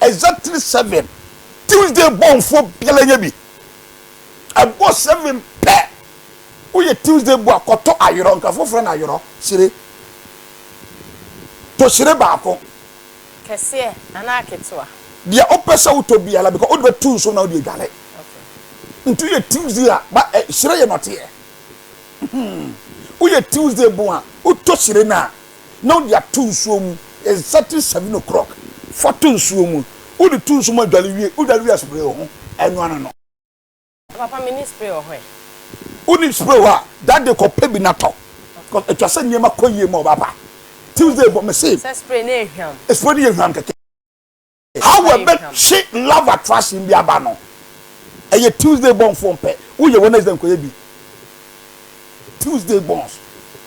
Exactly seven Tuesday bɔnfoɔ biara nyɛ bi ɛbɔ seven pɛ woyɛ Tuesday bɔ a kɔtɔ ayorɔ nka foforɔ na ayorɔ hyire tɔ hyire baako. Kɛseɛ anaa ketewa. Deɛ wopɛ sɛ wotɔ biara because wode bɛto nsuo na wode adware nti woyɛ Tuesday a ba hyire yɛ nɔteɛ woyɛ Tuesday bɔ a wotɔ hyire no a na wode ato nsuo mu exactly seven o'clock fa to nsuo mu wode to nsuo mu adware wie wodware wie a spray wo ho ɛno ano no. Papa me ni spray wɔ hɔ ɛ. Wo ni spray wɔ hɔ a that day kɔ pɛ bi na tɔ cos ɛtwa sɛ nneɛma kɔ yie ma ɔbaa pa Tuesday bɔ me se. Sɛ spray no yɛ hwam. Spray no yɛ hwam kɛkɛ. How wɔbɛtwe love attraction bi aba no ɛyɛ Tuesday born foɔ mpɛ, woyɛ Wednesday nkɔyɛ bi Tuesday borns.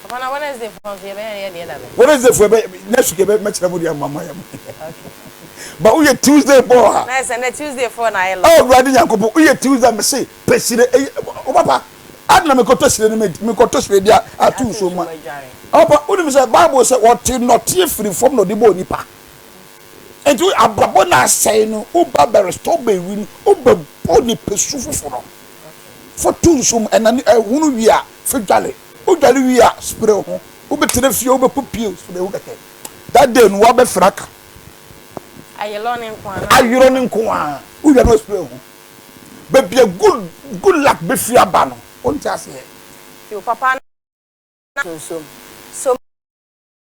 Papa na Wednesday foɔ nso yɛbɛyɛ no yɛ deɛ da bɛn? Wednesday foɔ yɛbɛ next week yɛbɛ mɛkyerɛ mo deɛ ama mo ayɛ mo but woyɛ Tuesday born a. Na ɛsɛ nɛ Tuesday foɔ na ayɛ love. Oh Awurade Nyankopɔn woyɛ Tuesday a mese pɛ hyire ɛyɛ oh papa adɛn na mekɔtɔ hyire no medi mekɔtɔ hyire de ato nsuo mu a oh papa wonim sɛ Bible sɛ wɔte nnɔteɛ firi fam na ɔde bɔɔ nipa. Enti wo abrabɔ na asɛe no, wo ba bɛ restore bɛ wi no, wo bɛ bɔ ne pɛ su foforɔ. Fa to nsuo mu, ɛna ne ɛhono wie a, fa dware. Wo dware wie a, spray wo ho. Wo bɛ tena fie, wo bɛ kɔ pie, spray wo kɛkɛ. That day no, wo abɛ fira ka. Ayerɔ no nko ara. Ayerɔ no nko ara. Wo wie a na wo spray wo ho. Baabi a good, good luck bɛ firi aba no, wo nte aseɛ. Yo papa na to nsuo mu. So.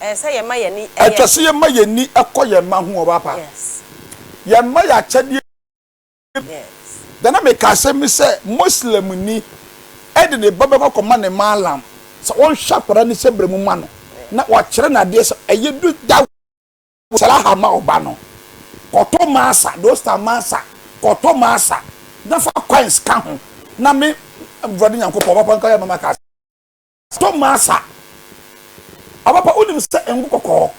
Ɛsɛ sɛ yɛma yɛn ani yɛ. Ɛsɛ sɛ yɛma yɛn ani kɔ yɛn mma ho. Ɔba pa. Yɛn mma yɛ akyɛdeɛ. Deɛ na meka asɛm bi sɛ Muslimni de ne ba bɛkɔ akɔma ne Mallam sɛ ɔnhwɛ akwadaa no hyɛbrɛ mu mma no na wakyerɛ no adeɛ sɛ ɛyɛ du da Salaha ma wo ba no. Kɔtɔ masa, dosta masa, kɔtɔ masa na fa coins ka ho na me Awurade Nyankopɔn, Ɔba pa nka yɛ ma maka asɛm. Tomasa, Papa wonim sɛ ngo kɔkɔɔ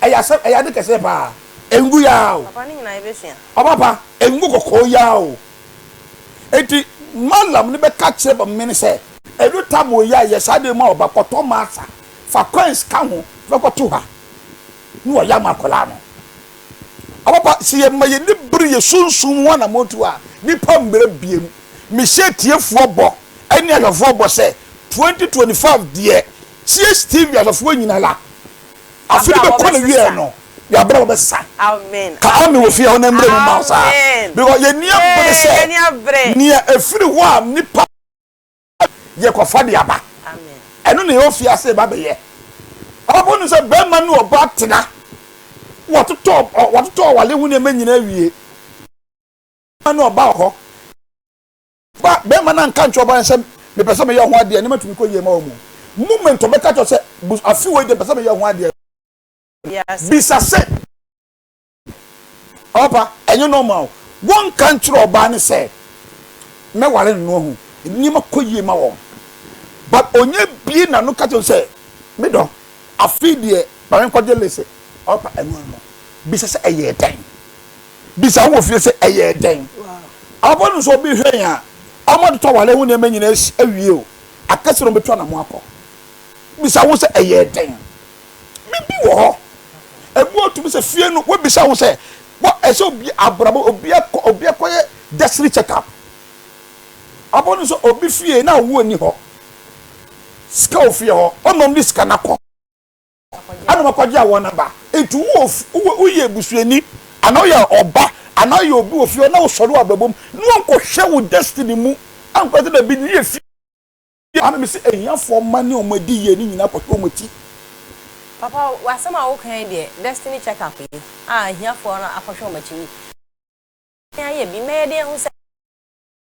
ɛyɛ asɛm ɛyɛ ade kɛseɛ paa ngo yi ara o. Papa ne nyinaa yɛbɛsua. Papa ngo kɔkɔɔ yi ara o. Enti Mallam no bɛka kyerɛ Bamime no sɛ. Ɛdu Tammo yi a yɛ saa adeɛ mu a ɔba kɔ Tomasa fa coins ka ho fa kɔto ha na wayɛ ama akwadaa no. Ampa, sɛ yɛma yɛn ani bere yɛn sunsum ho anammɔntuo a, nnipa mmerɛ bie mu. Mehyɛ atiefoɔ bɔ ne ahwɛfoɔ bɔ sɛ, 2025 deɛ, CHTV ahwɛfoɔ nyinala, afe no bɛkɔ n'awieɛ no, yɛabrɛ wɔbɛsesa. Ka Amen wɔ fie hɔ na mmerɛ mu mma wo saa. Because yɛn ani abere sɛ, nea ɛfiri hɔ a nnipa. yɛ kɔ fa de aba ɛno na yɛ fi ase ba bɛ yɛ ɔbɔ no sɛ bɛrima ne ɔba tena wɔtotɔ wɔtotɔ ɔwale ho nneɛma nyinaa wie bɛrima ne ɔba hɔ ba bɛrima na nka nkyɛn ɔba no sɛ mepɛ sɛ meyɛ ho adeɛ ne ma tumi kɔ yie ma wɔn moment ɔbɛka kyɛ sɛ afi wɔ yi de mepɛ sɛ meyɛ ho adeɛ bisa sɛ. Ɔba ɛnyɛ normal o. Wɔnka nkyerɛ ɔbaa no sɛ mɛware no na wahu. Nneɛma kɔ yie ma wɔn but ɔnya bue n'ano ka kyerɛ no sɛ me dɔ afei deɛ ma menkɔgye Lise. Ɔba ɛno ano no bisa sɛ ɛyɛɛ dɛn? Bisa wɔ fie sɛ ɛyɛɛ dɛn? Ɔba no nso obi hwɛ yɛn a wɔatotɔ aware ho nneɛma nyinaa awie o, aka sɛ wɔbɛtu anamɔ akɔ. Bisa ho sɛ ɛyɛɛ dɛn? Biribi wɔ hɔ. Ebi wɔ tumi sɛ fie no wobisa ho sɛ wɔ ɛsɛ obi abrabɔ obi ɛkɔ obi ɛkɔ yɛ destiny check up. Ɔbɔ no sɛ obi fie na awoɔ ni hɔ. Sika wɔ fie hɔ ɔnom de sika na kɔ. Ɛna wɔkɔ gye awɔ na ba. Nti wo woyɛ ebusuani ana woyɛ ɔba ana woyɛ obi wɔ fie hɔ na wosɔre wɔ abrabɔ mu na wɔnkɔ hwɛ wo destiny mu ankɔ sɛ baabi no yɛ fie. Bio ara na mese ahiafoɔ mma ne wɔn adi yie no nyinaa kɔhwɛ wɔn akyi. Papa w'asɛm a woka yi deɛ destiny check up yi a ahiafoɔ no akɔhwɛ wɔn akyi yi yɛn ayɛ bi mma yɛde ahu sɛ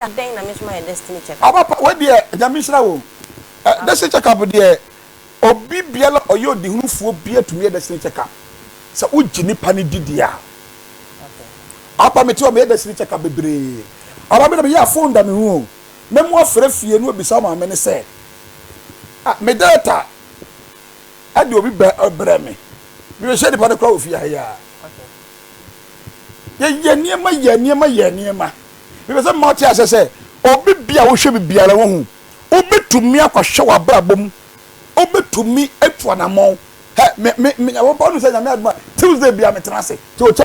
adɛn na me nso mayɛ destiny check up. Papa wei deɛ Nyame nhyira wo. Destiny check up deɛ obi biara ɔyɛ ɔdehunufoɔ biara tumi yɛ destiny check up sɛ wogye nipa no di deɛ a. Papa mete hɔ meyɛ destiny check up bebree. Papa me deɛ meyɛ a phone da me ho o. na mu afra fie no abisa maame no sɛ, Ah, me data de obi brɛ me. Mebɛhyia nipa no koraa wɔ fie ha yi ara. Yɛyɛ nneɛma, yɛ nneɛma, yɛ nneɛma. Mepɛ sɛ mma ɔte aseɛ sɛ, obi bi a wohwɛ bi biara wohu. Wobɛtumi akɔhwɛ w'abrabɔ mu. Wobɛtumi atu anammɔn. Hɛ, me, me, me, Nyankopɔn nim sɛ Nyame adom a, Tuesday biara metena ase. Sɛ ɔkyɛ.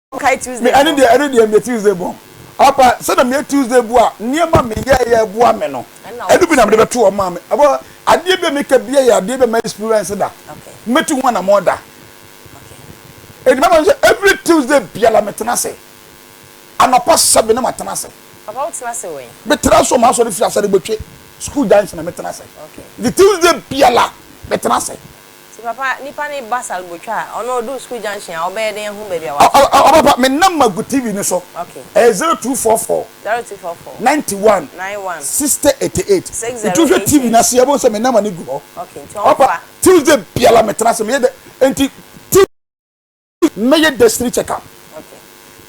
Kae Tuesday bɔ. Me ɛne deɛ ɛne deɛ meyɛ Tuesday bɔ. Apa sɛ na meyɛ Tuesday bɔ a nneɛma me yɛ yɛ boa me no. Ɛdu bi na mede bɛto wɔn maa me. Ɛbɔ adeɛ bi a meka bi yɛ adeɛ bi a ma experience da. Mɛtu ho anamɔ da. Ɛdi mama sɛ every Tuesday biara me tena se. Anɔpa seven na ma tena se. Papa wo tena se wɛn? Me tena so ma asɔ de fi asɛ de bɛtwe school junction na me tena se. The Tuesday biara me tena se. Ti papa nipa ne ba salbotwa a ɔno ɔduu school junction a ɔbɛyɛ dɛn ahu baabi a Ɔ wafa. Ɔ papa me number gu TV no so Ok. ɛyɛ zero two four four Zero two four four ninety one nine one sixty eighty eight six nti zero wohwɛ eight TV no eight. ase yɛbɛhu sɛ me number no gu hɔ Ok nti ɔ papa ɔmfa. Tuesday biara me tena ase meyɛ dɛ nti ti mɛyɛ destiny check up. Ok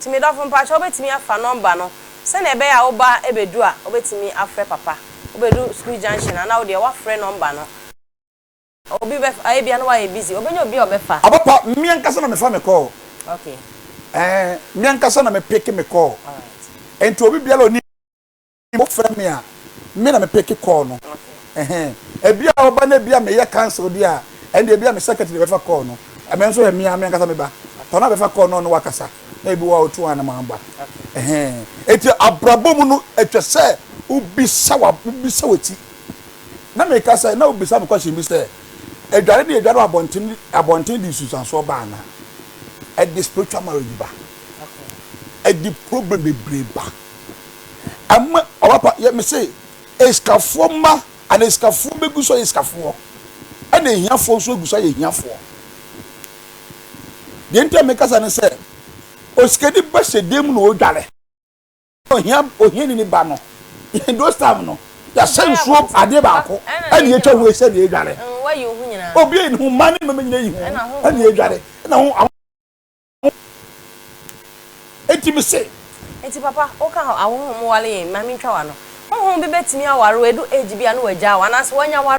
nti me dɔfo mpakyɛw wobɛtumi afa number no sɛnea ɛbɛyɛ a wo ba bɛdu a wobɛtumi afrɛ papa wobɛdu school junction a na wodeɛ woafrɛ number no. Obi bɛfa a ebia na wayɛ busy. Obenya obi a ɔbɛfa. Abapa, me ankasa na mefa me call. Okay. Ɛɛ, me ankasa na me pick me call. Alright. Nti obi biara a ɔnim me a ɔfrɛ me a, me na me pick call no. Okay. Ɛhɛn. Ebia ɔba na ebia meyɛ council deɛ a, ɛnde ebia me secretary na ɛbɛfa call no. Me nso ɛ, me ara me ankasa meba. Ɔno na bɛfa call no na ɔne wo akasa. Na ebi wɔ hɔ a otu anam aba. Okay. Ɛhɛn. Nti abrabɔ mu no, etwa sɛ wobisa w'ab, wobisa w'ati. Na meka sɛ, na wobisa me question bi sɛ, Adware ne yɛdware wɔ abɔnten abɔnten de nsunsuansoɔ ba anaa? Ɛde spiritual marriage ba. Ɛde problem bebree ba. Ɛma ɔbapa yɛ me se esikafoɔ mma anaa esikafoɔ bɛgu so ayɛ esikafoɔ ɛna ahiafoɔ nso agu so ayɛ ahiafoɔ. Deɛ nti a meka saa ne sɛ, osikani bɛhyɛ dan mu na ɔredware. Ohia ohiani ne ba no those time no yɛahyɛ nsuo adeɛ baako ɛna yɛtwa ho ɛsɛ na yɛdware obi ɛni ho mma ne mmɛmɛ nyina yi ho ɛna yɛdware ɛna ho awo ɛti me se ɛti papa woka hɔ ahoho mo wale yɛn ma mentwa wa no hoho bi bɛtumi aware wadu age bi a na wagya wa anaasɛ wanya ware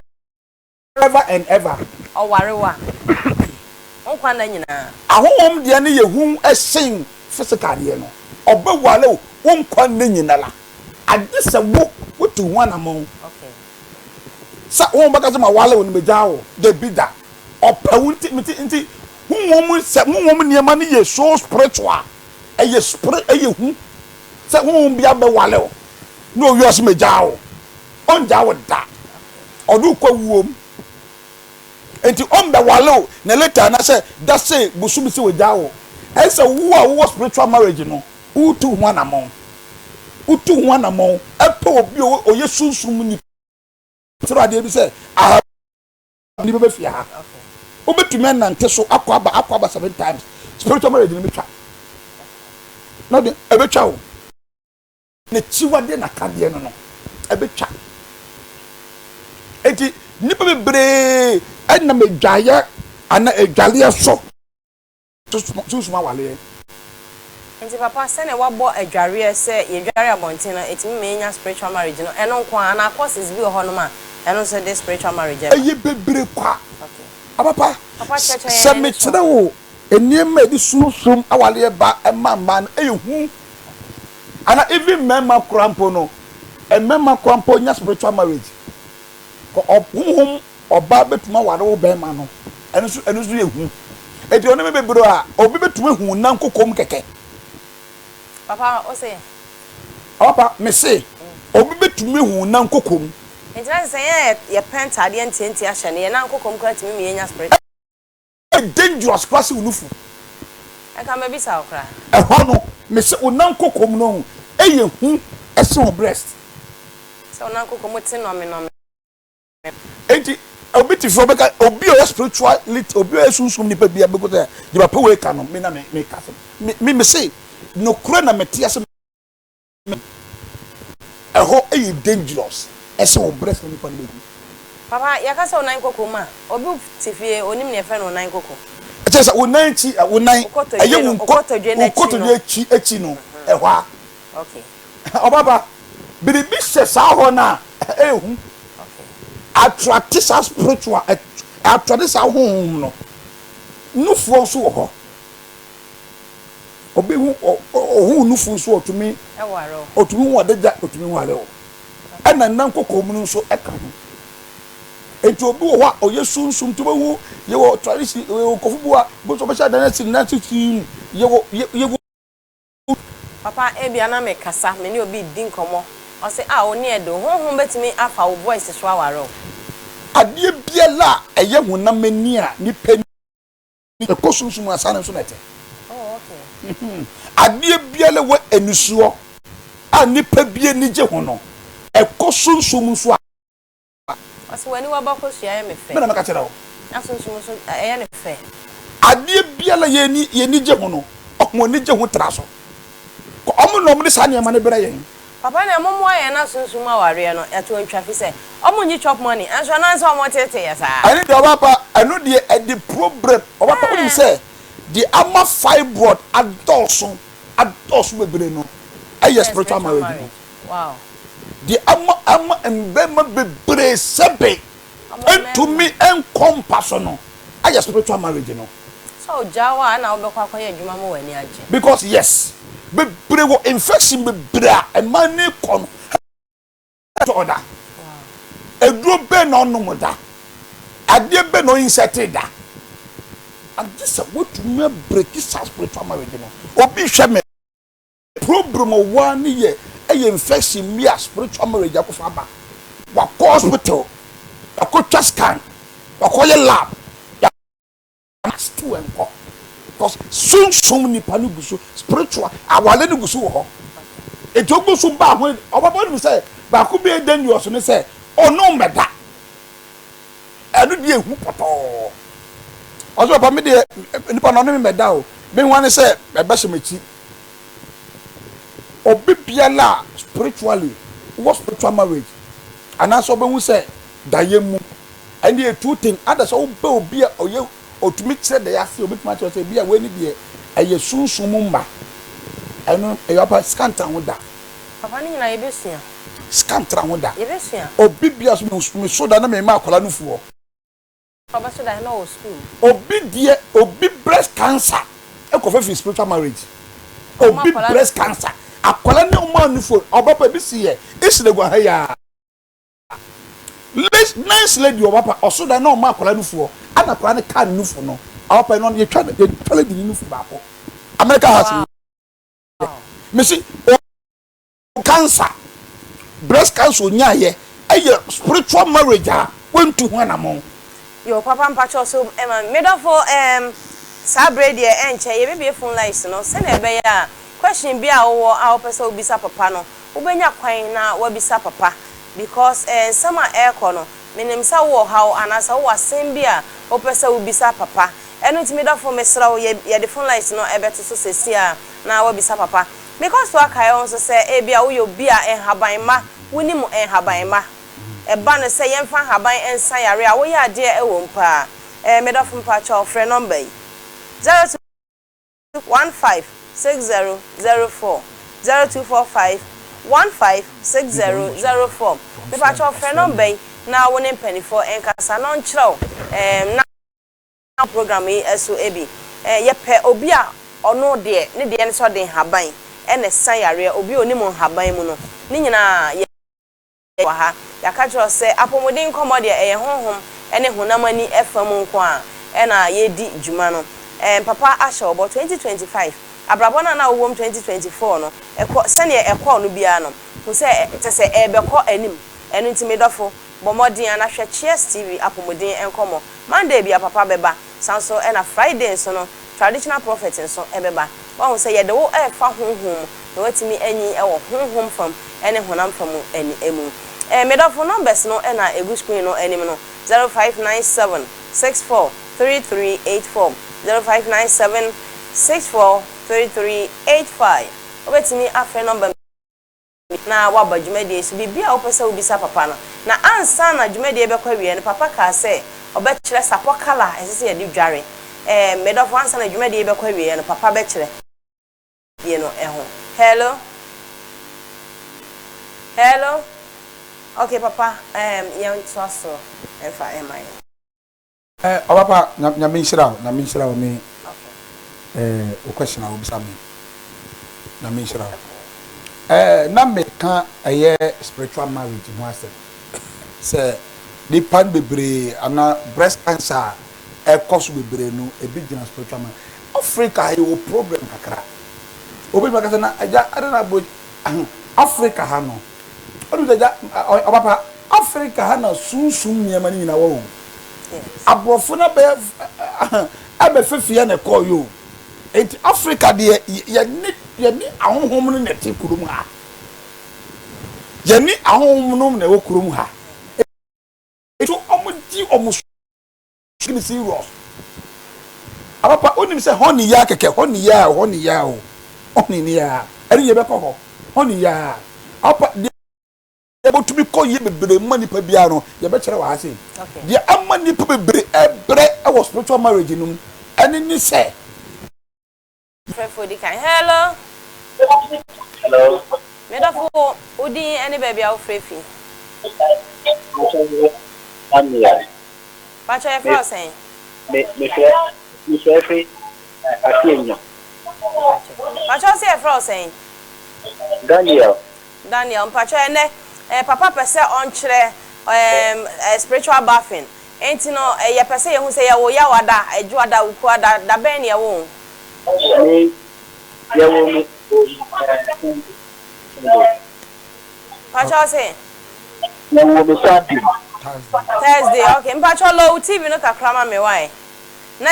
Ever and ever. Ɔware wo a, ɔpii. Wo nkwa nna nyinaa. Ahohom deɛ no yɛ hu sen physical deɛ no. Ɔbɛ ware wo wo nkwa nna nyinara. Agye sɛ wo wo tu ho anamɔn. Okay. Sɛ wo bɛka sɛ ma ware wo no me gyaa wo. Dabi da. Ɔpɛ wo nti me ti nti honhom sɛ honhom nneɛma no yɛ so spiritual. Ɛyɛ spirit ɛyɛ hu sɛ honhom bi abɛ ware wo na owie ɔse me gyaa wo. Ɔnngyaa wo da, ɔde wo kɔ awuo mu. Nti ɔmbɛwale wo na later na sɛ da se bosome se wagyaa wo. Ɛyɛ sɛ wo a wowɔ spiritual marriage no wotu ho anamɔn. Wotu ho anamɔn pɛ obi a ɔyɛ sunsum mu nipa. Kyerɛ adeɛ bi sɛ ahabuni bɛba fie ha. Wobɛtumi anante so akɔ aba akɔ aba seven times. Spiritual marriage no bɛtwa. Ɛbɛtwa wo. N'akyiwadeɛ na akadeɛ no no ɛbɛtwa. Enti nnipa bebree nam adwaeɛ anaa adwaleɛ so sunsum awaleɛ. Nti papa sɛnea wabɔ adwareɛ sɛ yɛdware abɔnten no ɛtumi ma yɛnya spiritual marriage no ɛno nko ara anaa courses bi wɔ hɔ nom a ɛno nso de spiritual marriage ɛba? Ɛyɛ bebree kwa papa sɛ mekyerɛ wo. Nneɛma a ɛde sunsum awareɛ ba ma mmaa no yɛ hu anaa even mmarima koraa mpo no, mmarima koraa mpo nya spiritual marriage. Honhom ɔbaa bɛtumi aware wo barima no, ɛno nso ɛno nso yɛ hu. Enti ɔne me bebree a, obi bɛtumi ahu wo nan koko mu kɛkɛ. Papa, wo se? Papa, me se, obi bɛtumi ahu wo nan koko mu. Enti na kyerɛ sɛ yɛn a yɛpɛ ntaadeɛ ntiantia hyɛ no, yɛn nan koko mu koraa tumi ma yɛnya spiritual. Ɛyɛ dangerous koraa sɛ wo nufu. Ɛka mɛbisa wo koraa. Ɛhɔ no mese wo nan koko mu no yɛ hu ɛsen wo breast. Sɛ wo nan koko mu te nɔme nɔme. Enti obi te fie ɔbɛka obi a ɔyɛ spirituality obi a ɔyɛ sunsum nipa bi a bɛgu sɛ deɛ papa wei ka no me na meka asɛm me mese nokorɛ na mete ase Ɛhɔ yɛ dangerous ɛsɛ wo brɛ fo nipa no bɛ hu. Papa yɛka sɛ onan koko mu a obi te fie onim nea yɛfrɛ no onan koko. Ɛkyerɛ sɛ onan akyi ɛ onan ɛyɛ wo nkɔ wo kotodwe akyi akyi no ɛhɔ a. Okay. Ɔbaba biribi hyɛ saa hɔ no a ɛyɛ hu attracte saa spiritual attracte saa honhom no nufoɔ nso wɔ hɔ Obi ho ohun nufu nso ɔtumi ware wo. Ɔtumi hu ade gya ɔtumi ware wo. Ɛna nna nkɔkɔɔ munu nso ɛka ho. Enti obi wɔ hɔ a ɔyɛ sunsum nti wobɛhu yɛwɔ tradition yɛwɔ nkɔfo bi wɔ a wobɛhu sɛ ɔbɛhyɛ adan asi ne nan ase siim yɛwɔ yɛwɔ. Papa ebia na me kasa me ne obi redi nkɔmmɔ ɔse ah wo ne yɛ de wo honhom bɛtumi afa wo voice so aware wo. Adeɛ biara a ɛyɛ honam ani a nipa ani. ɛkɔ sunsum mu asaa no nso na ɛte adeɛ biara wɔ anisoɔ a nipa bi ani gye ho no ɛkɔ sunsum nso a ɔsɛ w'ani waba kɔ sua yɛ me fɛ mena meka kyerɛ wo na sunsum nso ɛyɛ ne fɛ adeɛ biara yɛni yɛni gye ho no ɔmo ani gye ho tra so ɔmo na ɔmo de saa nneɛma no brɛ yɛn Papa na ɛmo moa yɛn na sunsum awareɛ no ɛto ntwa fisɛ ɔmo nyi chop money ɛnso ɛnam sɛ ɔmo tete yɛ saa. Ɛne deɛ ɔbapa ɛno deɛ ɛde problem ɔbapa wonim sɛ deɛ ama fibroid adɔɔso adɔɔso bebree no ɛyɛ spiritual marriage no deɛ ama ama mmarima bebree sɛbe. ntumi nkɔ mpa so no ayɛ spiritual marriage no. Sɛ ɔgyaa hɔ a ɛna wobɛkɔ akɔyɛ adwuma ma w'ani agye. Because yes bebree wɔ infection bebree a ɛma ani kɔ no ɛtɔ da aduro bɛn na ɔnom da adeɛ bɛn na ɔ insert da agye sɛ woatumi a break saa spiritual marriage no obi hwɛ me. Problem a ɔwɔ ara ne yɛ ɛyɛ infection bi a spiritual marriage akɔfa aba. Wakɔ hospital, wakɔ twa scan, wakɔ yɛ lab, ya na still ɛnkɔ. Cause sunsum nipa no gu so, spiritual awale no gu so wɔ hɔ. Eti ogu so ba ho, ɔbɛbɔ anim sɛ baako bi a ɛyɛ dangerous ne sɛ ɔne wo mmɛda. Ɛno deɛ ehu pɔtɔɔ. Ɔsɛ papa me deɛ nipa no ɔne me mmɛda o. Me nwa ne sɛ ɛbɛhyɛ m'akyi. Obi biara a spiritually ɔwɔ spiritual marriage anaasɛ ɔbɛhu sɛ daeɛ mu ɛne yɛ two thing ada sɛ wobɛ obi a ɔyɛ ɔtumi kyerɛ daeɛ ase ɔbɛtumi akyerɛ sɛ ebi a wei ne deɛ ɛyɛ sunsum mu mma ɛno ɛyɛ ɔpa sika ntra ho da. Papa ne nyinaa yɛbɛsua. Sika ntra ho da. Yɛbɛsua. Obi biara so meso da na mema akwadaa no fuɔ. Ɔbɛso da he na ɔwɔ sukuu mu. Obi deɛ obi breast cancer ɛkɔ fɛ firi spiritual marriage obi breast cancer akwadaa ne ɔmo ani fo ɔba pa ebi si yɛ isle gua ha yi aa nice lady ɔba pa ɔso da na ɔma akwadaa no fuɔ ɛna akwadaa no kaa ne nufo no ɔba pa ɛnɔ yɛtwa yɛtwa lady ne nufo baako America house yɛ mesi o. cancer breast cancer ɔnyaaeɛ ɛyɛ spiritual marriage a wantu ho anamɔn. Yoo papa mpakyɛw so ma me medɔfo eem saa bere yi deɛ ɛnkyɛ yɛbɛbue phone lines no sɛnea ɛbɛyɛ a question biara a wowɔ a wopɛ sɛ wobisa papa no wobɛnya kwan na woabisa papa because eh nsɛm a ɛrekɔ no menim sɛ wowɔ ɔhaw anaasɛ wowɔ asɛm bi a wopɛ sɛ wobisa papa ɛno nti medɔfo mesrɛ wo yɛde phone lines no ɛbɛto so seesei ara na woabisa papa Mekɔ so ara kae wo nso sɛ ebia woyɛ obi a nhaban mma wunim nhaban mma. Ɛba no sɛ yɛmfa nhaban nsa yare a, woyɛ adeɛ a ɛwom paa. Ɛɛ, me dɔfo mpakyɛw frɛ nɔmba yi, zero two one five six zero zero four zero two four five one five six zero zero four. Mepakyɛw frɛ nɔmba yi na wo ne mpaninfoɔ nkasa na wɔnkyerɛ wo, ɛɛm, na. program yi so bi. Yɛpɛ obi a ɔno deɛ ne deɛ ne sɛ ɔde nhaban na ɛsa yareɛ, obi a ɔnim nhaban mu no. Ne nyinaa yɛ wɔ ha. Yɛaka kyerɛ wo sɛ apɔmuden nkɔmmɔ deɛ ɛyɛ honhom ne honam ani fa mu nko ara na yɛredi dwuma no. Papa ahyɛ wo bɔ, 2025, abrabɔ no a na wowɔ mu 2024 no, kɔ sɛdeɛ ɛkɔɔ no biara no, hu sɛ kyerɛ sɛ ɛrebɛkɔ anim. Ɛno nti me dɔfo, Bɔ mmɔden ara na hwɛ Cheers TV Apɔmuden nkɔmmɔ. Monday bia papa bɛba, saa nso na Friday nso no Traditional Prophet nso bɛba. Woahu sɛ yɛde wo refa honhom mu na woatumi anyin wɔ honhom fam ne honam fam mu. Me dɔfo, numbers no na ɛgu screen no anim no, zero five nine seven six four three three eight four, zero five nine seven six four three three eight five. Wobɛtumi afrɛ number. na waba dwumadie so, biribiara a wopɛ sɛ wobisa papa no, na ansa na dwumadie yi bɛkɔ awieɛ no, papa kaa sɛ ɔbɛkyerɛ sapɔ colour a ɛsɛ sɛ yɛde dware. Ɛɛm, me dɔfo, ansa na dwumadie yi bɛkɔ awieɛ no, papa bɛkyerɛ. Die no ho. Hello? Hello? Okay, papa, ɛɛm, yɛntoa so mfa mma yɛn. Eh ɔpapa nya nyame nhyira wo nyame nhyira wo me eh wo question a wobisa me nyame nhyira wo eh na meka ɛyɛ spiritual marriage ho asɛm sɛ nipa no bebree ana breast cancer a ɛkɔ so bebree no ebi gyina spiritual marriage Africa yɛwɔ problem kakra obi ma kasa na agya ɛde na bro Africa ha no Odu sɛ gya ɔyɛ ɔba pa. Africa ha na sunsum nneɛma no nyinaa wɔ o. Aborɔfo no abɛyɛ ɛbɛ fefeɛ na ɛkɔɔ yɛ o. Enti Africa deɛ yɛne yɛne ahonhom no na ɛte kurom ha. Yɛne ahonhom no na ɛwɔ kurom ha. Enti wɔn gye wɔn so. Skin see rough ah papa wonim sɛ honey yaa kɛkɛ honey yaa o honey yaa o honey ne yaa ɛne yɛ bɛkɔ hɔ honey yaa ah papa deɛ ɛbɔtumi kɔ yie bebree ma nipa biara no yɛ bɛkyerɛ wɔ ha sei deɛ ama nipa bebree ɛbrɛ ɛwɔ spiritual marriage no mu ɛne ne sɛ Mfrɛfoɔ di kan. Hello. Hello. Me dɔfo, wo din ne baabi a wofrɛ fi? Samuel. Pakyɛ yɛfrɛ wo sɛn? Me mefrɛ mefrɛ fi Afianya. Pakyɛ wo se yɛfrɛ wo sɛn? Daniel. Daniel, mpakyɛ ɛnɛ eh, papa pɛ sɛ ɔnkyerɛ um, uh, spiritual bathing. Enti no, yɛpɛ sɛ yɛhu sɛ yɛwo Yaw ada, Adwo ada, Wuku ada, da bɛn na yɛwo wo? Sɛ yɛwo me wɔ yi ɛɛ Sunday, Sunday. Mpakyɛw se? Yɛwo me Sunday. Thursday. Thursday, ok. Mpakyɛw low TV no kakra ma me, wai? Na.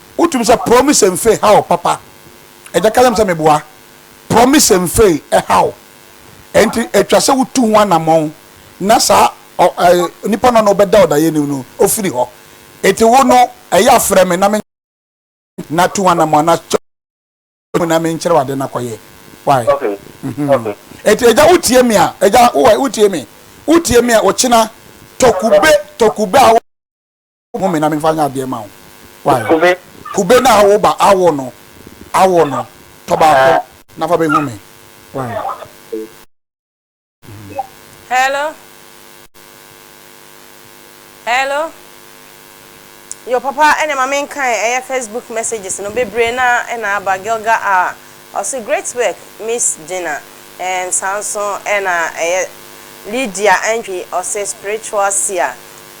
Wotum sɛ Promise Mfe Haw Papa Agya Ka Kyerɛ Me Sɛ Meboa Promise Mfe Haw Enti Etwa Sɛ Wotu Ho Anamɔn Na Saa Onipa No Na Ɔbɛda Ɔdaeɛni No Ofiri Hɔ Enti Wo No Ɛyɛ A Frɛ Me Na Me Na Tu Ho Anamɔn Na Kyerɛw Ade Na Me Nkyerɛw Ade Na Kɔyɛ Wai Enti Agya Wotie Me A Agya Wowai Wotie Me Wotie Me A Okyena Tɔ Kube Tɔ Kube A Mo me na me nfa nyɛ adeɛ ma wo. Why? Kube. Kube na wo ba awo no. Awo no. Tɔ baako na fa bɛhu me. Why? Hello? Hello? Yo papa ɛne ma menkae ɛyɛ Facebook messages no bebree na ɛna aba Gilga a. Ɔse great work miss Gina ɛɛm saa nso ɛna ɛyɛ Lydia Antwi ɔse spiritual seer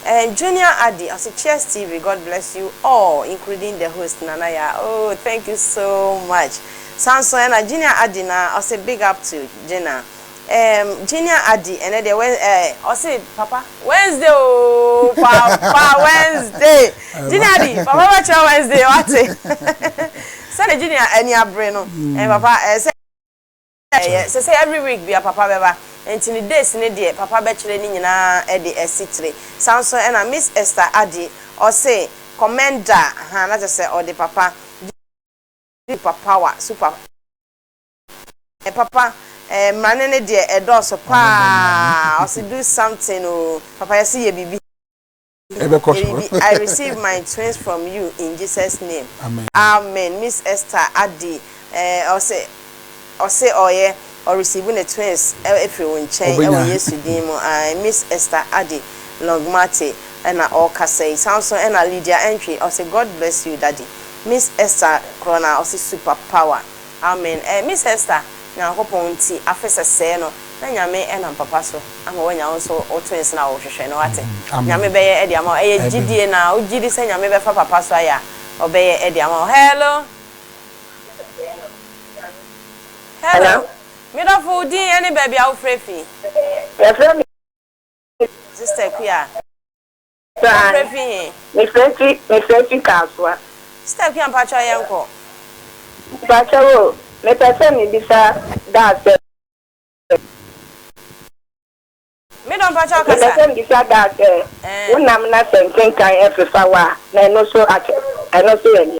ɛɛm Junior Addy ɔse cheers TV God bless you all including the host Nana Yaa ooh thank you so much saa nso ɛna Junior Addy naa ɔse big up to Gina. Ehm Genia Addy ɛnɛ deɛ wɛ ɛɛ ɔse papa Wednesday oo papa Wednesday Genia Addy papa bɛkyerɛ Wednesday wate sɛdeɛ Genia ani abere no ɛɛ papa ɛɛ sɛ ɛyɛ sɛ sɛ every week bia papa bɛba nti ne days ne deɛ papa bɛkyerɛ ne nyinaa ɛde asi tire saa nso ɛna Miss Esther Addy ɔse comment da ahaa na kyerɛ sɛ ɔde papa Genia Addy super power super Eh papa eh mmrane no deɛ ɛdɔɔso paa ɔse do something oo papa yɛse yɛ biribi yɛ biribi I receive my twins from you in Jesus name amen Miss Esther Addy eh ɔse ɔse ɔyɛ ɔ receive ne twins ɛfiri wo nkyɛn ɛwɔ Yesu din mu ae Miss Esther Addy Longmarty ɛna ɔɔkasa yi saa nso ɛna Lydia Antwi ɔse God bless you daddy Miss Esther Krona ɔse super power. Amen eh miss Esther nyankopɔn nti afe sɛsɛɛ no na nyame nam papa so ama wanya wo nso wo twins no a wo hwehwɛ no wate nyame bɛyɛ de ama wo ɛyɛ gyidie na wo gyidi sɛ nyame bɛfa papa so ayɛ a ɔbɛyɛ de ama wo hello hello me dɔfo wo din ɛne baabi a wo frɛ fi. Yɛfrɛ me. Sister Kua. Ɔfrɛ fi he? Mefrɛ fi, mefrɛ fi Kasoa. Sister Kua mpakyɛw yɛnkɔ. Mpakyɛw o, mepɛ sɛ mebisa Da asɛm. Me dɔ mpakyɛw kasa. Mepɛ sɛ mebisa Da sɛ, wo nam na sɛ ntentan ɛfefa wo a, na ɛno so akyɛ, ɛno so yɛ deɛ?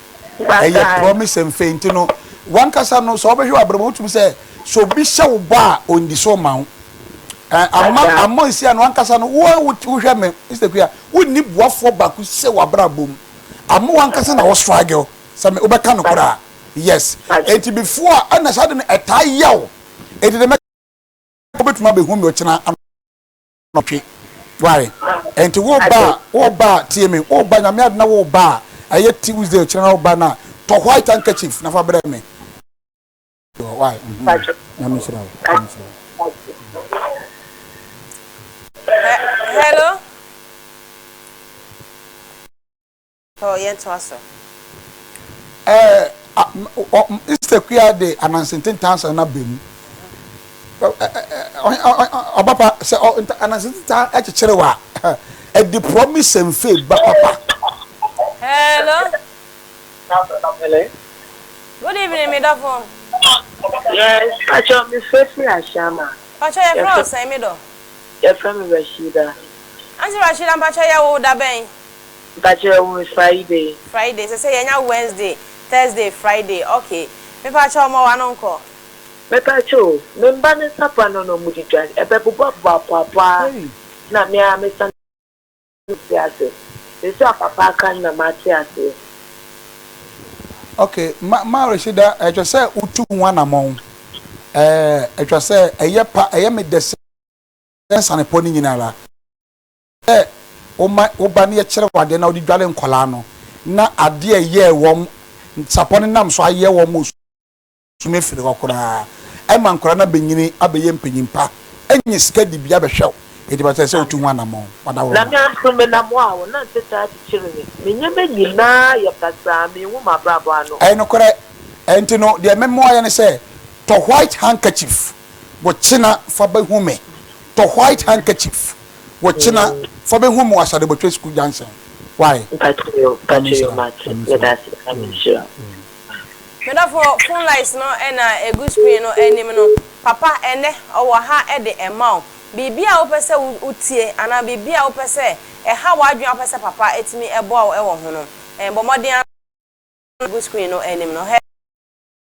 Ɛyɛ promise nfɛ nti no wankasa no sɛ ɔbɛhwɛ w'abrabɔ wotumi sɛ sɛ obi hyɛ wo bɔ a ɔndi so ma wo ama ama esi ano ankasa no wo wohwɛ me Mr Kuya wonni boafoɔ baako sɛ w'abrabɔ mu ama wankasa na wo struggle sɛ me wobɛka no koraa yes enti before a ɛna saa de no ɛtaa yaw enti de mɛ wobɛtumi abɛhu me ɔkyena anɔtwe ware ɛnti wo ba a wo ba a tie me wo ba nyame adom na wo ba a ɛyɛ tuesday kyerɛ na wo ba no a tɔ white handkerchief na fa brɛ me why nyame nhyira wo nyame nhyira wo He- hello Oh yɛn toa so. Ɛɛ a ɔ Mr Kua de Ananse Ntentansa no aba mu. Ɔba pa sɛ Ananse Ntentan kyekyere wa ɛde promise and fail ba papa. Hello. Good evening me dɔfo. Yes, Pacho me fɛ firi Ashama. Pacho yɛ fɛ ɔsɛn me dɔ. Yɛ fɛ me Rashida. Anti Rashida Pacho yɛ wo da bɛn. Mpa kyerɛ wo me Friday. Friday sɛ sɛ yɛnya Wednesday, Thursday, Friday ok me pa kyɛw ma wano nkɔ. Me pa kyɛ o me mba ne nsa pa no na ɔmo de dwan ɛbɛ bobɔ boa poa poa na me ara me san me te ase seesei a papa aka no na ma te aseɛ. Ok ma ma Rashida ɛtwa sɛ wo tu ho anamɔn ɛɛ ɛtwa sɛ ɛyɛ pa ɛyɛ me dɛ sɛ sane pɔ ne nyina ara. Sɛ woma wo ba no yɛ kyerɛwade na wode dware nkwadaa no, na adeɛ a ɛyɛɛ wɔn sapɔ no nam so ayɛ wɔn ma wɔsum afiri hɔ koraa. Ɛma nkwadaa no abɛnyini abɛyɛ mpanyin pa, anya sika dibea bɛhwɛ wo. Enti ɛsɛ sɛ wotu ho anammɔn. Wada wo ho. Nyame adom menam wo a wo nante taa kyekyere me, me nneɛma nyinaa yɛ basaa, menhu m'abrabɔ ano. Ɛyɛ nokorɛ, ɛnti no deɛ me mmoayɛ ne sɛ tɔ white handkerchief, bokyena fa bɛhu me, tɔ white handkerchief. Wo kyena fa bɛ hu mo asade botwe sukuu gyansen wai. Mpakyɛ yo mpakyɛ yo mate medase nyame nhyira wo. Me dɔfo phone lies no na ɛgu screen no anim no papa ɛnnɛ ɔwɔ ha de ɛma wo biribi a wopɛ sɛ wo tie anaa biribi a wopɛ sɛ ɛha w'adwene a wopɛ sɛ papa ɛtumi ɛboa wo ɛwɔ ho no bɔ mmɔden ara na fa gu screen no anim no.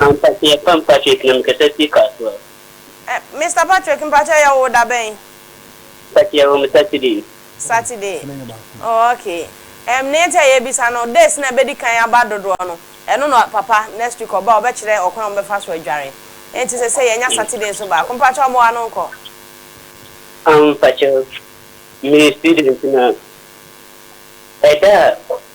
Ampa so yɛpam Patrick na mekasa firi Kasoa. Eh, Mister Patrick mpakyɛ yɛ wo da bɛn? Mpakyɛ yɛwɔ mo Saturday. Saturday oh okay ɛm ne nti a yɛbisa no days na ɛbɛdi kan aba dodoɔ no ɛno na papa next week ɔba a ɔbɛkyerɛ ɔkwan a wɔbɛfa so adware nti sɛsɛ yɛnya Saturday nso baako mpakyɛ ɔmo ano nkɔ. Ampakyɛ meyɛ student na ɛda a.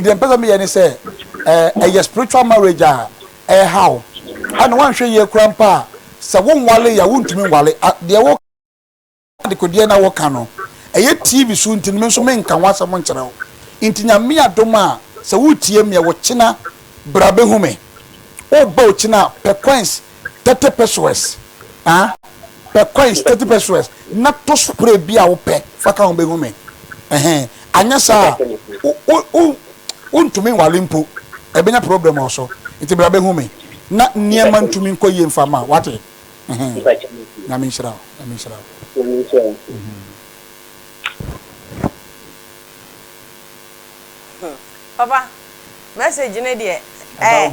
deɛ mpɛ sɛ meyɛ ne sɛ ɛyɛ spiritual marriage a ɛhaw ɛna wanhwɛ yie kura mpa a sɛ wo nwale yɛ a wontumi nwale deɛ wo adekodeɛ na woka no ɛyɛ tv so nti no me nso menka ho asɛm nkyerɛ wo nti nyame adom a sɛ wotie meɛ wokyena bra bɛhu me woba okyena pɛ coins thirty pesewas ah pɛ coins thirty pesewas na tɔ spray bi a wopɛ fa ka ho bɛhu me ɛhɛn anyɛ saa a wo wo wontumi nwale mpo ɛbɛnya problem wɔ so nti bra bɛhu me na nneɛma ntumi nkɔ yie mfa ma wate ɛhɛn nyame nhyira wo nyame nhyira wo. Papa message no deɛ ɛɛ.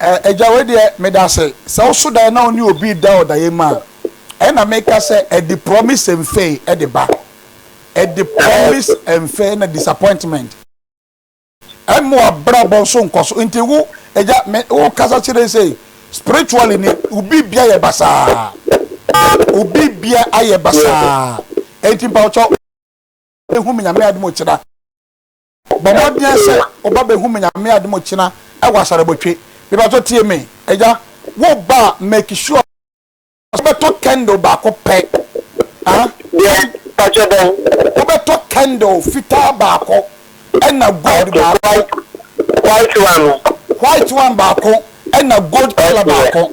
Ɛɛ agya wei deɛ medase sɛ woso daeɛ na wone obi reda ɔdaeɛ mu a ɛna meka sɛ ɛde promise and fail ɛde ba ɛde promise and fail na disappointment ɛmo abrabɔ nso nkɔso nti wo agya me wo kasa kyerɛ sɛ spiritually ne obi bia yɛ basaa obi bia ayɛ basaa ɛnti mpa ɔkyɛ ehu me nyame adum kyerɛ Bɔ mmɔden sɛ woba bɛ hu me nyame adom okyena wɔ asarabotwe me pakyɛ tie me agya wo ba a make sure sɛ wo bɛ tɔ candle baako pɛ ah wo bɛ tɔ candle fitaa baako ɛna gold baako white one white one baako ɛna gold color baako.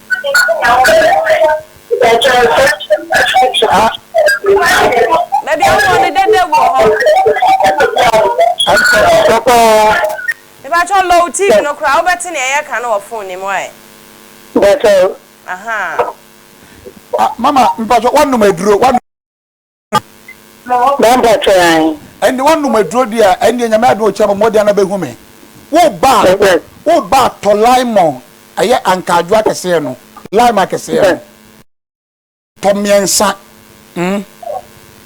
Baabi a wowɔ no dɛdɛ gu wɔ hɔ. Mepakyɛw low TV no koraa wobɛte nea yɛka no wɔ phone no mu ae. Ahaa. Mama mepakyɛw woanom aduro. Ɛnde woanom aduro deɛ a, ɛndeɛ Nyame adom ɔkyena bɔmmɔden ano bɛhu me. Wo ba, wo ba tɔ laimɔn, ɛyɛ ankaadwo akɛseɛ no, laim akɛseɛ no, tɔ mmiɛnsa, mm,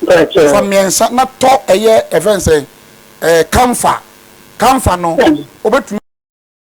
fa mmiɛnsa na tɔ ɛyɛ ɛfɛn sɛ, ɛɛ, kamfa, kamfa no, wobɛtumi.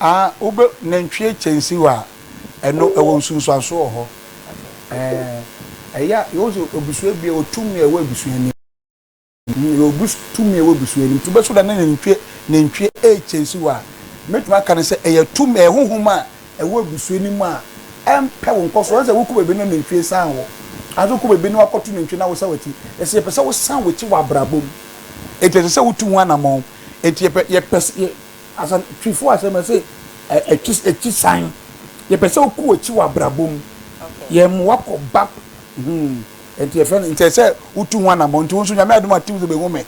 Aa wobɛ nantwie kyɛnsiw a ɛno ɛwɔ nsunsuanso wɔ hɔ ɛɛ ɛyɛ a yɛwɔ sɛ abusua bi yɛwɔ tumi a ɛwɔ abusua nim mm yɛwɔ bus tumi a ɛwɔ abusua nim nti wobɛso da ne nantwie nantwie ɛɛkyɛnsiw a mɛtumi aka no sɛ ɛyɛ tumi ɛyɛ honhom a ɛwɔ abusua nim a ɛmpɛ wo nkɔ so ɛnsɛ wokɔ baabi na nantwie san wo anso wokɔ baabi na wakɔto nantwie na wosa w'akyi ɛsɛ yɛpɛ sɛ wosan w'akyi wɔ abrabɔ mu ɛti ɛsɛ sɛ wotu ho anamɔn ɛti yɛpɛ yɛpɛ sɛ Asɛm, Twifo asɛm, ɛse akyi akyi san. Yɛpɛ sɛ wokɔ akyi wɔ abrabɔ mu. Yɛn mmoa kɔ bap hmm ɛnti yɛfrɛ no nti ɛsɛ wotu ho anamɔn. Nti wo nso Nyame adom a tew sɛ bɛhu me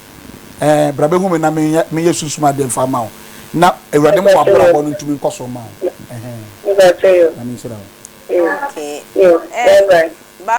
eh bra bɛhu me na menyɛ menyɛ sunsum adeɛ mfa mma wo na Awurade mma w'abrabɔ no ntumi nkɔ so mma wo ɛhɛn. Nyame nhyira wo. Okay eh ba.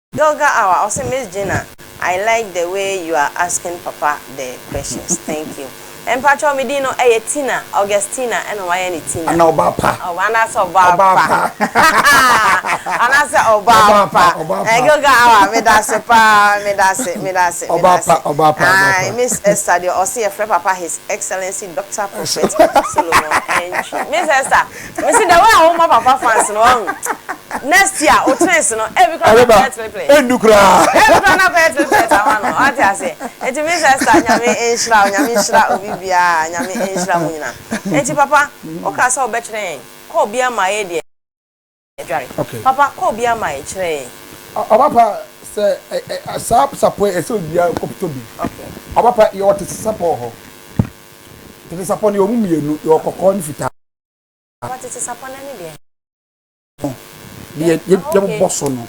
Doga awa ɔse miss Gina I like the way you are asking papa the questions thank you mpakyɛw me din no ɛyɛ Tina Augustina ɛna ɔmo ayɛ no Tina Ana ɔbaa pa? Ɔbaa anaasɛ ɔbaa pa Ɔbaa pa hahahaa anaasɛ ɔbaa pa Ɔbaa pa ɔbaa pa Doga awa medase paa medase medase Ɔbaa pa medase ɔbaa pa ɔbaa pa Ae miss Esther deɛ ɔse yɛfrɛ papa his excellency Doctor Prophet Solomon Antwi miss Esther Mesi the way a woma papa fans no wahu next year o twins no ebi kora na kɔyɛ triplets. Endu kura. Ebi kura na kɔyɛ triplets ama no ɔte ase. Eti mi sesta nyame nhyira o nyame nhyira obi bia nyame nhyira mu nyina. Eti papa okasa obɛkyerɛ yɛn kɔ obia ma yɛ deɛ. dware. Okay. Papa kɔ obia ma yɛ kyerɛ yɛn. Ɔbapa sɛ saa sapɔ yi ɛsɛ obia kɔptɔ bi. Okay. Ɔbapa yɛ wɔ tete sapɔ wɔ hɔ. Tete sapɔ no yɛ ɔmu mienu yɛ wɔ kɔkɔɔ ne fitaa. Papa tete sapɔ no ɛne deɛn. Deɛ yɛ yɛ mo bɔ so no.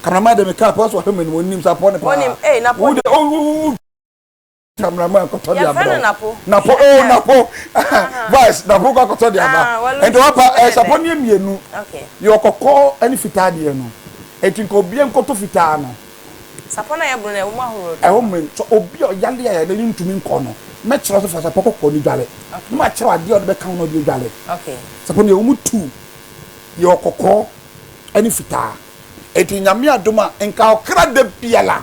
Kameraman deɛ me kaa pɛ ɔsɛ ɔhwɛ m'anim ɔnim sapɔ ne paa. Ɔnim ee na pɔ deɛ. Wo deɛ wo wo wo. Tamina mu akɔtɔ di abirɔ napo o oh, napo vice napo kɔ akɔtɔ di aba ah, nti wapa ɛsapɔ eh, ni emienu yɛ ɔkɔkɔ ɛni fitaa deɛ no eti nka obi nkɔtɔ fitaa no. sapɔ na yɛ bunu na ɛwɔ mu ahorow dɔ. ɛwɔ mu nso obi a ɔyale a yɛde ne ntumi nkɔ no mɛkyerɛ so fa sapɔ kɔkɔ ni dwale ne ma kyerɛ adeɛ a ɔde bɛka ho na ɔde adwale sapɔ ni ɛwɔ mu tu yɛ ɔkɔkɔ ɛni fitaa eti nyame adum a nka ɔkra da biara.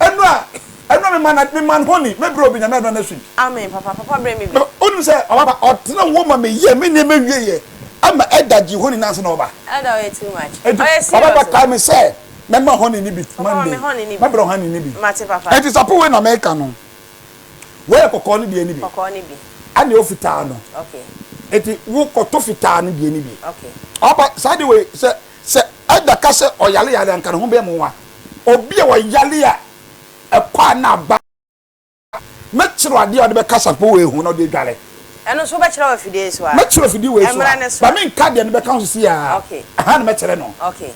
Ɛno a ɛno a me man me man honey me bro bi nyame adom na sweet. Amen papa papa brɛ me bi. Na onim sɛ ɔbaba ɔtena wo ma me yɛ me nneɛma wie yɛ ama ɛda gye honey nansa na ɔba. Ɛda ɔyɛ too much ɔyɛ serious o. Ɔbaba kae me sɛ mɛ ma honey no bi Monday mɛ brɛ wo honey no bi. Mate papa. Ɛnti sapo wei na me ka no wei yɛ kɔkɔɔ no deɛ no bi. Kɔkɔɔ no bi. Ɛna ɛwɔ fitaa no. Okay. Ɛnti wo kɔto fitaa no deɛ no bi. Okay. Ɔbaba saa de wei sɛ. Sɛ Edda ka sɛ ɔyareyare a, anka ne ho bɛyɛ nwowa. Obi a ɔyare a ɛkɔ a na aba Mɛkyerɛ wo adeɛ a wode bɛkasa mpo wɔ ehu na wode adware. Ɛno nso wobɛkyerɛ wɔ afidie yi so a? Mɛkyerɛ wɔ afidie wei so a. Ɛmmra ne so. Ba menka deɛ no bɛka ho seesei ara. Okay. Ɛha na mɛkyerɛ no. Okay.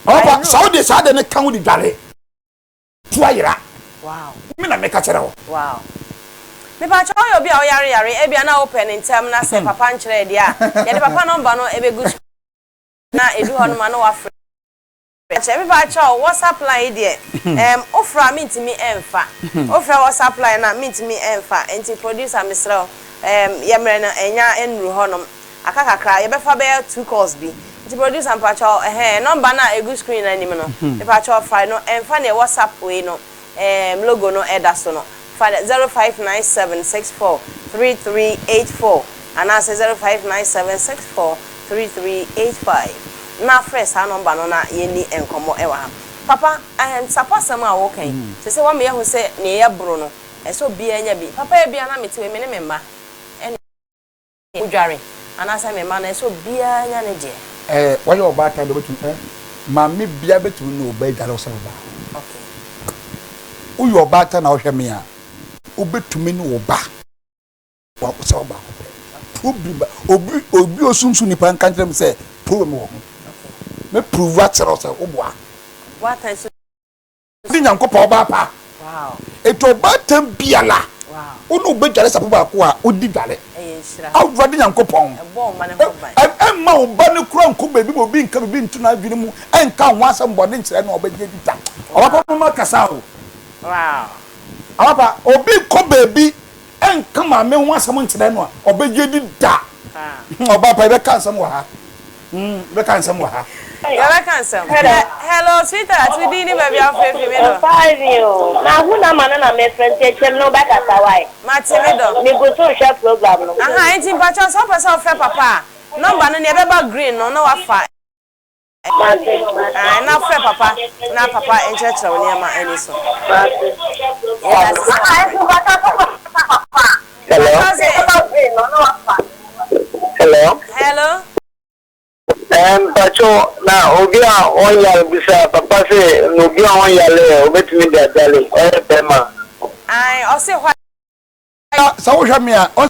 Ɔba, I sa wode saa adeɛ no ka ho de dware. Tu ayera. Wow. Me na meka kyerɛ wo. Wow. Mepakyɛ ɔyɛ obi a ɔyare yare ebia na wopɛ no ntɛm na sɛ papa nkyerɛɛ deɛ a yɛde papa nɔmba no ɛbɛgu so na ɛdu hɔ no ma na wafrɛ kyɛ mepakyɛ wo WhatsApp line yi deɛ ɛɛm wofrɛ a mentumi ɛmfa wofrɛ WhatsApp line no a mentumi ɛmfa nti producer mesrɛ wo ɛɛm yɛ mmerɛ no ɛnya ɛnnuru hɔ nom Aka kakra, yɛbɛfa bɛyɛ two calls bi. Nti producer mpakyɛw ɛhɛn number no a egu screen no anim no, mepakyɛw fa no ɛnfa neɛ WhatsApp wei no ɛɛm logo no ɛda so no, fa zero five nine seven six four three three eight four anaasɛ zero five nine seven six four three three eight five na frɛ saa number no na yɛnni nkɔmmɔ ɛwɔ ha. Papa ɛɛm Sapɔ asɛm a woka yi, sɛsɛ woama yɛahu sɛ neɛ yɛboro no, ɛsɛ obiara nya bi. Papa ebia na mete wei me ne me mma ɛne. odware anaasɛ me mma no, ɛsɛ sɛ obiara nya ne deɛ. Ɛɛ, wayɛ ɔbaatan deɛ, obetumi, ɛɛ, maame biara betumi ne ɔbaa adware ɔsɛ ne ba. Okay. Woyɛ ɔbaatan na wohwɛ me a, wobetumi ne wo ba ɔsɛ ɔbaako pɛ. Problem ba, obi, obi osunsun nipa nka nkyerɛ me sɛ problem wɔ ho. Okay. Me prove akyerɛ wo sɛ woboa. Boatan so. ne Nyankopɔn ɔbaa pa. Enti ɔbaatan biara wo ne wo bɛdware sapo baako a wodi dware. Awurade Nyankopɔn, mma wo ba no kura nkɔ baabi ma obi nka biribi nto n'adwene mu nka wo ho asɛm bɔne nkyerɛ no a ɔbɛgye adi da. Ɔbapa moma kasa o. Ɔbapa obi nkɔ baabi. ɛnka maame ho asɛm nkyerɛ no a, ɔbɛgye di da. Ɔbaa pa, yɛbɛka nsɛm wɔ ha. Yɛbɛka nsɛm wɔ ha. Yɛbɛka nsɛm. Hello, sweetheart, wo din ne baabi a wofrɛ fi, me dɔ? Mfae ni o. Mahu number no na merefrɛ nti ɛkyɛm na wobɛkasa wai? Mate, me dɔ. Megu so rehwɛ program no. Aha, enti mpakyɛw sɛ wopɛ sɛ wofrɛ papa a, number no nea ɛbɛba green no na woafa. Ae, na frɛ papa na papa nkyerɛkyerɛ wo nneɛma ani so. Yɛda ase sɛ waba. Hello. Hello. Hello. Mpacho na obi a ɔnyare bisa papa sɛ na obi a ɔnyare ɛ obetumi de adwale ɔyɛ bɛrima. Ae, ɔse hwa. Sɛ wohwɛ me a.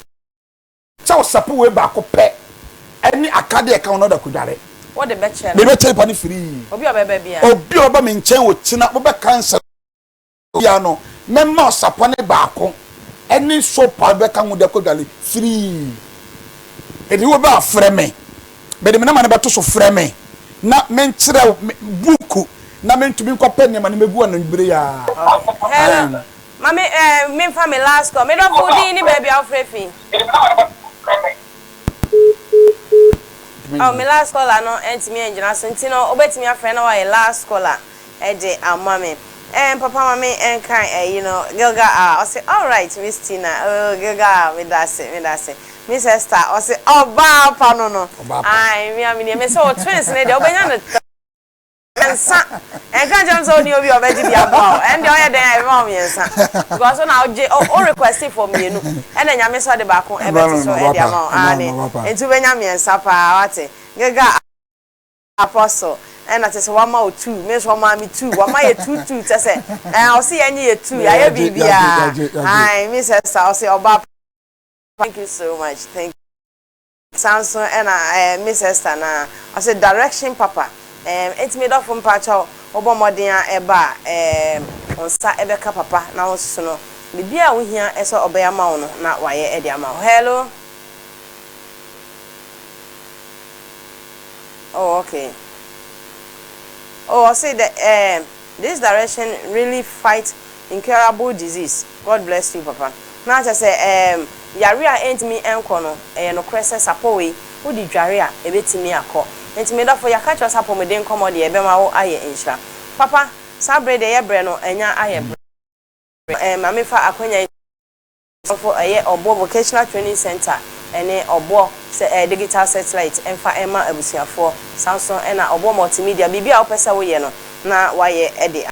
Sɛ wosape wei baako pɛ ne akadeɛ a ɛka ho na wode akɔdware. Wode bɛkyɛ no. Mebɛkyɛ nipa no firii. Obi a ɔbɛba biara. Obi a ɔbɛba me nkyɛn ɔkyena mobɛka nsɛm biara no, mɛma ɔsapɔ no baako ne soap a wode bɛka ho de akɔdware firii. Enti wobɛ a frɛ me. Mede me nɔma no bɛto so frɛ me na menkyerɛ wo buuku na mentumi nkɔpɛ nneɛma no mɛgu anwummere yi ara. Aane. Ma me eh, menfa me last call. Me dɔfo wo din ne baabi a wo frɛ fi. Oh, me last caller no antumi angyina so nti no wobɛtumi afrɛ na wayɛ last caller de ama me. Eh, papa ma me nka eh, you know, Gilgal ah, ɔse alright Miss Tina, oh Gilgal ah, meda ase, meda ase Miss Esther, ɔse ɔbaa pa no no, ae, me a me nie, mese wo twins no deɛ wobɛnya no. Mmiɛnsa, ɛnka nkyerɛ me sɛ wonni obi a ɔbɛgye bi aboa wo, ɛnde ɔyɛ dɛn a ɛbɛma wo mmiɛnsa? Because wo na wogye, wo request for mmienu, ɛna Nyame nso de baako bɛto so de ama wo, aane, nti wobɛnya mmiɛnsa paa, wate, Gega Apostle, ɛna kyerɛ sɛ wama wo two, me nso ɔmaa me two, wama yɛ two two, kyerɛ sɛ ɛɛ ɔse yɛnye yɛ two, yɛayɛ biribiara, aane, me sɛ sa, ɔse ɔbaa pa, thank you so much, thank you. Saa nso na ɛɛ Miss Esther no a, ɔse direction papa ɛɛm enti me dɔfo mpakyɛw wobɔ mmɔden a ɛba a ɛɛm wo nsa bɛka papa na wo sono biribi a wohia sɛ ɔbɛyɛ ama wo no na wayɛ de ama wo hello oh okay oh ɔse the ɛɛm this direction really fight incurable disease. God bless you papa. Na kyerɛ sɛ ɛɛm yare a ɛntumi nkɔ no ɛyɛ nokorɛ sɛ sapɔwee wode dware a ɛbɛtumi akɔ. Nti me dɔfo yɛaka kyerɛ wo sɛ apɔmuden nkɔmɔ deɛ ɛbɛma wo ayɛ nhyira. Papa saa berɛ deɛ yɛ berɛ no anya ayɛ berɛ ɛɛm ma me fa akwanya yi sɛ mfo ɛyɛ ɔboɔ vocational training center ɛne ɔboɔ sɛ ɛɛ digital satellite mfa ɛma abusuafoɔ. Saa nso ɛna ɔboɔ multimedia biribi a wo pɛ sɛ wo yɛ no na wayɛ ɛde ama.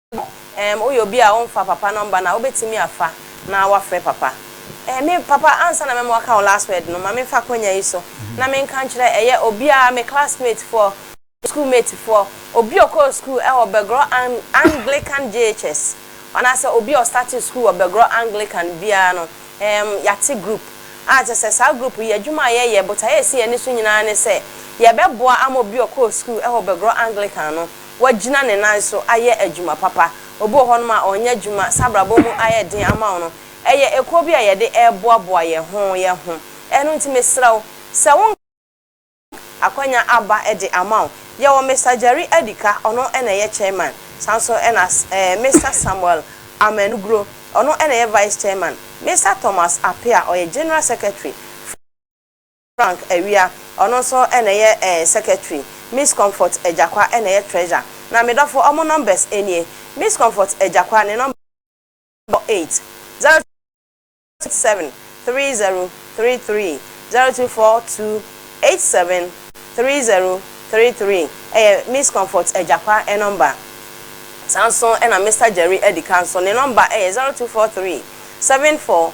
Ɛɛm woyɛ obi a womfa papa nɔmba no a wobɛtumi afa na woafrɛ papa. Ɛɛ me papa ansa na mɛma waka wo last word no ma me fa akwanya yi so na me nka nkyerɛ ɛyɛ obiara me classmate foɔ, me school mate foɔ, obi a ɔkɔɔ school ɛwɔ Bɛgorɔ Anglican JHS anaasɛ obi a ɔstartee school wɔ Bɛgorɔ Anglican biara no ɛɛm yɛate group a kyerɛ sɛ saa group yi adwuma a yɛyɛ botaeɛ a ɛsi yɛn ani so nyinaa ne sɛ yɛbɛboa ama obi a ɔkɔɔ school ɛwɔ Bɛgorɔ Anglican no wagyina ne nan so ayɛ adwuma papa. Obi wɔ hɔnom a ɔnyɛ adwuma, saa abrabɔ mu ayɛ den ama wo no, ɛyɛ ekuo bi a yɛde reboaboa yɛn ho yɛn ho. Ɛno nti mesrɛ wo, sɛ wo nka a, akwanya aba de ama wo. Yɛwɔ Mister Jerry Adika, ɔno na ɛyɛ chairman. Saa nso na eh, Mister Samuel Amanugro, ɔno na ɛyɛ vice chairman. Mister Thomas Apea, ɔyɛ general secretary. Frank Awia, ɔno nso na ɛyɛ eh secretary, Miss Comfort Agyakwa na ɛyɛ treasure. Na me dɔfo, wɔn numbers nie, Miss Comfort Agyakwa, ne number bɔ eight, zero two eight seven three zero three three, zero two four two eight seven three zero three three, ɛyɛ Miss Comfort Agyakwa number. Saa nso na Mister Jerry Adikan nso, ne number ɛyɛ zero two four three seven four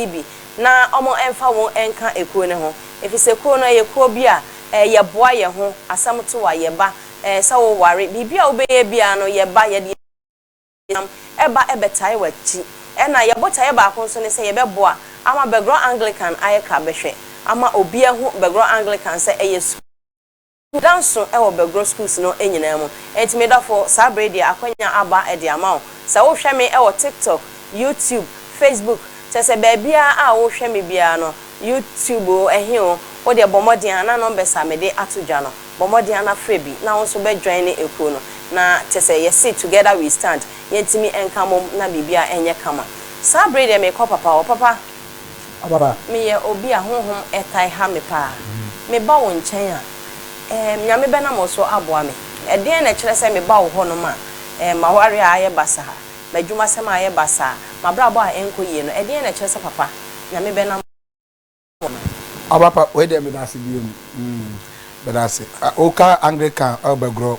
nsisi bi na wɔmfa wɔn nka kuo no ho, ɛfiri sɛ kuo no yɛ kuo bi a yɛboa yɛn ho, asɛm to a yɛba, sɛ woware, biribi a wobɛyɛ biara no yɛba, yɛde yɛn nam ba bɛtae w'akyi. Ɛna yɛn botaeɛ baako nso ne sɛ yɛbɛboa ama Bɛgorɔ Anglikan ayɛ ka bɛhwɛ, ama obi ahu Bɛgorɔ Anglikan sɛ ɛyɛ sukuu. da nso wɔ Bergro schools no nyinaa mu. Enti me dɔfo, saa bere yi deɛ akwanya aba de ama wo. Sɛ wohwɛ me wɔ TikTok, YouTube, Facebook, kyerɛ sɛ baabiara a wohwɛ me biara no, YouTube o, ɛhe o, wo deɛ bɔ mmɔden ara na numbers a mede ato dwa no, bɔ mmɔden ara na frɛ bi na wo nso bɛ join ekuo no. Na kyerɛ sɛ yɛse together we stand, yɛntumi nka mmom na biribiara nyɛ kama. Saa bere yi deɛ merekɔ papa hɔ, papa. Ɔbaba, meyɛ obi a honhom taa ha me paa. Meba wo nkyɛn a, ɛɛ, Nyame bɛnam wo so aboa me. Ɛdeɛn na ɛkyerɛ sɛ meba wo hɔnom a, ɛɛ, m'awareɛ a ayɛ basaa, m'adwumasɛm a ayɛ basaa, m'abrabɔ a ɛnkɔ yie no, ɛdeɛn na ɛkyerɛ sɛ Papa, Nyame bɛnam wo so. Ɔbapa, wei deɛ meda ase bio. Meda ase. Woka Anglikan, ɛwɔ Bɛgorɔ.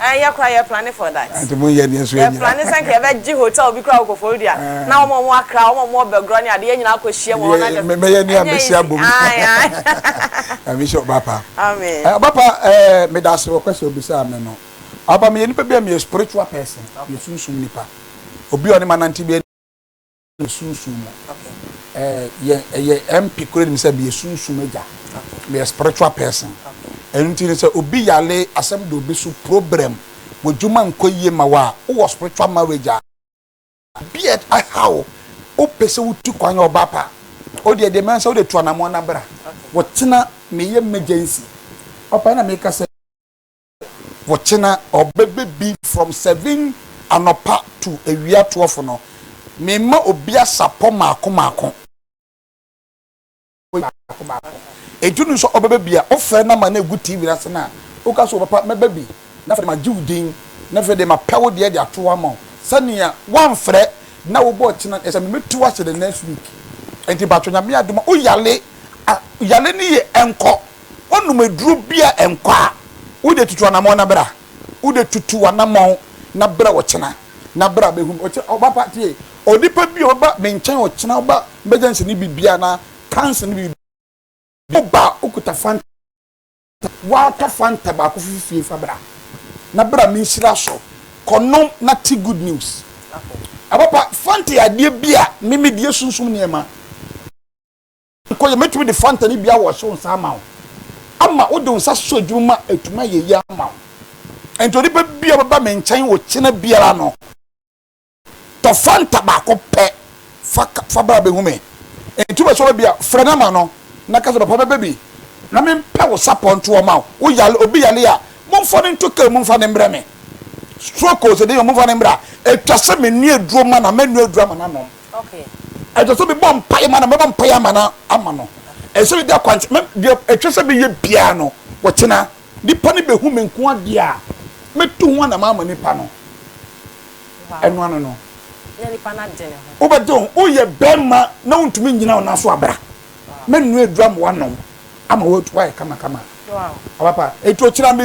Ɛɛ yɛ koraa yɛ plane for that. Ante mo nyɛ deɛ nso yɛ nyina. Yɛ plane sɛ nka yɛ bɛ gye hotel bi koraa wɔ Koforidua na wɔn a wɔn wɔ Accra wɔn a wɔn wɔ Bɛgorɔ ne adeɛ yɛ nyina akɔ hyia mu wɔn na dɛm. Mɛyɛ ne a mɛ hyia bom. Ae ae. Nyame nhyira ɔba pa. Amen. Ɛɛ ɔba pa ɛɛ me da ase wɔ kwɛsɛ obisaa me no. Ɔba pa meyɛ nipa bi a meyɛ spiritual person meyɛ sunsum nipa obi a ɔne ma nante bi a. ne sunsum mu. Yɛ yɛ MP kura nim sɛ meyɛ sunsum agya. Meyɛ spiritual person. Ɛno nti no sɛ obi yare asɛm da obi so, problem, w'adwuma nkɔ yie ma wo a, wowɔ spiritual marriage a, obi a aha wo, wopɛ sɛ wotu kwan yɛ ɔbaa pa, wodeɛ deɛ mɛhu sɛ wode tu anammoa na bra. Wotena meyɛ emergency. Ɔpɛ na meka sɛ. Wɔkyena ɔbɛ bɛ bi from seven anɔpa to awia twelve no me ma obi asapɔ maako maako. Enti wonim sɛ ɔbɛ bɛ bi a wofrɛ na ma na egu TV no ase na woka sɛ papa mɛ bɛ bi na afei de ma gye wo din na afei de ma pɛ wo deɛ de ato hɔ ama wo sɛnea wamfrɛ na wo bɔ ɔkyena ɛsɛ me mɛtu ase the next week. Enti patro Nyame adom a wo yale a yale no ye nkɔ. Wonom aduro bi a ɛnkɔ a, wode tutu anamɔn na bra. Wode tutu w'anamɔn na bra ɔkyena. Na bra bɛhu me. Ɔkyena, ɔba pa tie. Onipa bi a ɔbɛba me nkyɛn ɔkyena, ɔba emergency ne biribi anaa cancer ne biribi, woba a wokuta Fanta, woatɔ Fanta baako firi fie fa bra. Na bra me nhyira so. Kɔnom na te good news. Ɔba pa, Fanta yɛ adeɛ bi a me medi, ɛsunsum nneɛma. Nkɔ yɛ, mɛtumi de Fanta ne bi awɔ ɔhyew nsa ama wo, ama wode wo nsa so adwuma ma atumi ayɛ yie ama wo. Enti onipa biara ɔbɛba me nkyɛn okyena biara no, tɔ Fanta baako pɛ fa ka, fa bra bɛhu me. Enti wopɛ sɛ ɔba bi a, frɛ no ma no, na ka sɛ, Papa mɛba bi, na mempɛ wo sapɔ nto hɔ ma wo. Wo yare, obi yare a, momfa no nto kaa mu mfa no mmrɛ me. Stroke o, sɛ dɛn o, momfa no mmra. Ɛtwa sɛ menoa aduro ma no, a mɛnoa aduro ama no anom. Ɛsɛ sɛ mebɔ mpaeɛ ma no, mɛbɔ mpaeɛ ama no, ama no. Ɛsɛ sɛ medi akwankyerɛ, mɛ deɛ ɛtwa sɛ meyɛ biara no, wɔkyena. Nnipa no bɛhu me nko adeɛ a, mɛtu ho anama ama nnipa no. Ɛno ano no, wobɛgye wo ho, woyɛ barima na wontumi nnyina wo nan so a, bra. Mɛnoa aduro ama woanom ama woayɛ kamakama. Ɔpapa, enti ɔkyena me.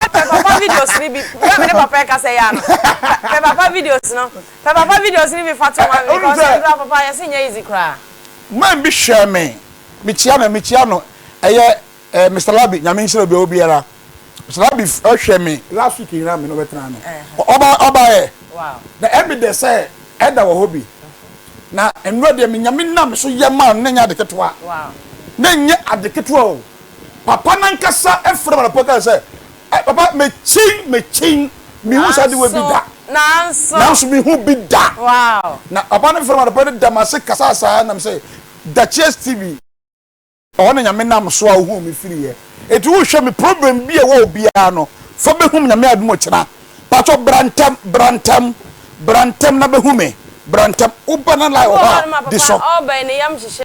Pɛ papa videos no bi bere a me ne papa rekasa yi ara no. Pɛ papa videos no. Pɛ papa videos no bi fa to ma me because ɛntra papa yɛse nyɛ easy koraa. Man bi hwɛɛ me, mekyia no a mekyia no ɛyɛ eh, Mister Labi, Nyame nhyira obi a ɔwɔ biara. Mister Labi hwɛ me last week nyinaa me na ɔbɛtena ano. Ɔba ɔbaeɛ na evidence sɛ ɛda wɔ hɔ bi. Na nnora deɛ me Nyame nam me so yɛ maa no na ɛnyɛ ade ketewa. Na ɛnyɛ ade ketewa o, Papa no ankasa frɛɛ me anɔpa kae sɛ, Ɛ, papa, mekyen, mekyen, menhuu saa adewa bi da. Nanso. Nanso menhuu bi da. Wow. Na papa no frɛɛ me anɔpa no da m'ase kasaa saa na mesɛ, Dakyɛ Stevie. Ɛhɔ na Nyame nam so a ohuu me firiiɛ. Enti wohwɛ me problem bi a ɛwɔ hɔ biara no, fa bɛhu me Nyame adom ɔkyena. Pakyɛ bra ntɛm, bra ntɛm, bra ntɛm na bɛhu me, bra ntɛm. Woba na line wɔ hɔ a, di so. Ɛwɔ hɔ a no ma papa ɔɔba yi ne yam hyehye.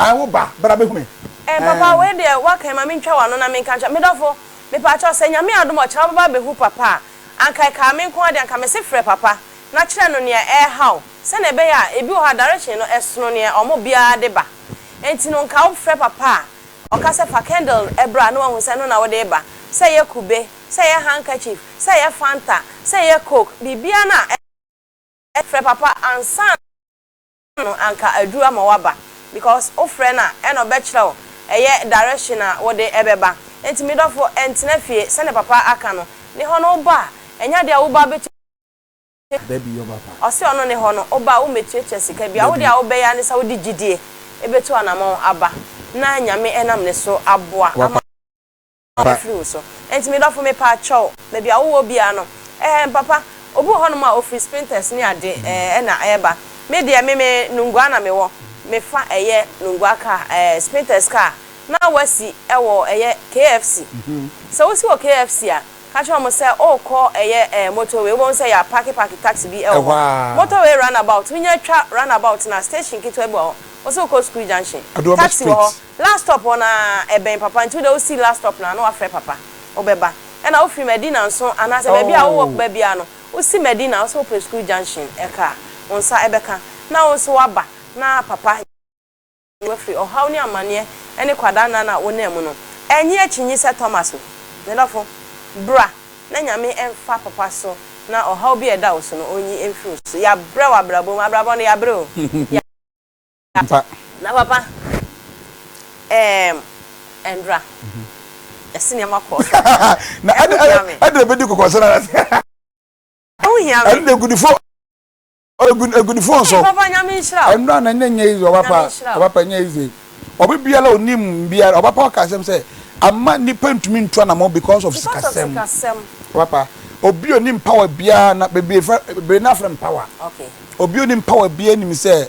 Ae wo ba, bra bɛhu me. Eh papa wei deɛ woaka yi ma me ntwa w'ano na me nka nkyerɛ Me dɔfo, mepaakyɛw sɛ Nyame adom a ɔkyerɛ wo bɛba abɛhu papa a, anka ɛkaa me nko ara deɛ anka mese frɛ papa na kyerɛ no nea ɛreha wo sɛnea ɛbɛyɛ a ebi wɔ hɔ a direction no ɛsono nea ɔmo biara de ba enti no nka wo frɛ papa a ɔka sɛ fa candle bra na wahu sɛ ɛno na wode reba sɛ ɛyɛ kube, sɛ ɛyɛ handkerchief, sɛ ɛyɛ fanta, sɛ ɛyɛ coke, biribiara no a ɛyɛ frɛ papa ansa no anka aduru ama waba because wo frɛ no a ɛna ɔbɛkyerɛ wo ɛyɛ direction a wode ɛbɛba nti me dɔfo ɛntena fie sɛdeɛ papa aka no ne hɔ no wo ba a ɛnyɛ adeɛ a wo ba bɛtumi Dabi yɔ papa. Ɔse ɔno ne hɔ no wo ba a wo mmɛtuatua sika biara wo deɛ a wo bɛyɛ ara ne sɛ wode gyidie ɛbɛtu anamɔn aba na Nyame ɛnam ne so aboa ama. afiri wo so. Enti me dɔfo me paa kyɛw baabi a wowɔ biara no ɛɛm papa obi wɔ hɔ nom a ofiri spinters ne ade ɛɛ na ɛɛba me deɛ me me nungua na me wɔ me fa ɛyɛ nungua car ɛɛ spinters car na wasi ɛwɔ ɛyɛ KFC sɛ wosi wɔ KFC a ka kyerɛ wɔn sɛ ookɔ ɛyɛ ɛɛ motorway wobɛhu sɛ ya paki paki taxi bi ɛwɔ hɔ motorway run about wonya twa run about no a station ketewa bi wɔ hɔ wosɛ wokɔ sukuu junction taxi wɔ hɔ Last stop hɔ na ɛbɛn papa nti wode wosi last stop na na wafrɛ papa wobɛba ɛna wofiri madina nso anaasɛ baabi a wo work ba biara no wosi madina wosɛ wopɛ school junction ɛka a wonsa ɛbɛka na wo nso waba na papa yi wo afiri ɔhaw ne amaneɛ ɛne kwadaa nna na wonam mu no ɛnye akyinyi sɛ Thomas o medɔfo bra na nyame ɛnfa papa so na ɔhaw bi a ɛda wo so no ɔnyi ɛmfiri wo so yabrɛ wɔ abrabɔ mu abrabɔ no yabrɛ o. Ampa. Na papa eem ɛndra yɛse nneɛma kɔɔ so na ɛho hia me. Ɛdra bɛdi kɔkɔ so na ɛse. Ɛho hia me. Ɛno de agudifo agudifo nso. Hey papa nyame nhyira o. Ɛndra na nyɛ nyɛ izi ɔbapa ɔbapa nyɛ izi ɔbi biara onim biara ɔbapa ɔka asɛm sɛ ama nipa ntumi ntu anamɔ because of sikasɛm ɔbapa obi onim power biara na bebree fɛ bebree na afrɛ power okay obi onim power biara nim sɛ.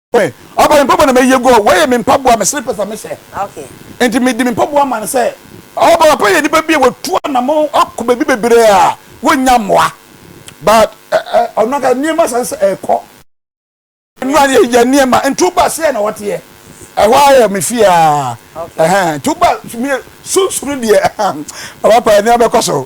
ɔba me mpaboa na mɛyi agu hɔ wɔyɛ me mpaboa me slippers a mehyɛ nti mede me mpaboa ma no sɛ ɔba papa yɛ nipa bi a wɔtu anamɔ ɔkɔ baabi bebree a wɔnya mmoa but ɔno aka nneɛma san sɛ ɛkɔ nura yɛ yɛ nneɛma ntu ba sɛ na wɔteɛ ɛhɔ ayɛ me fie a ɛhɛn ntu ba sunsum deɛ ɛhɛn ɔba papa nneɛma bɛkɔ so.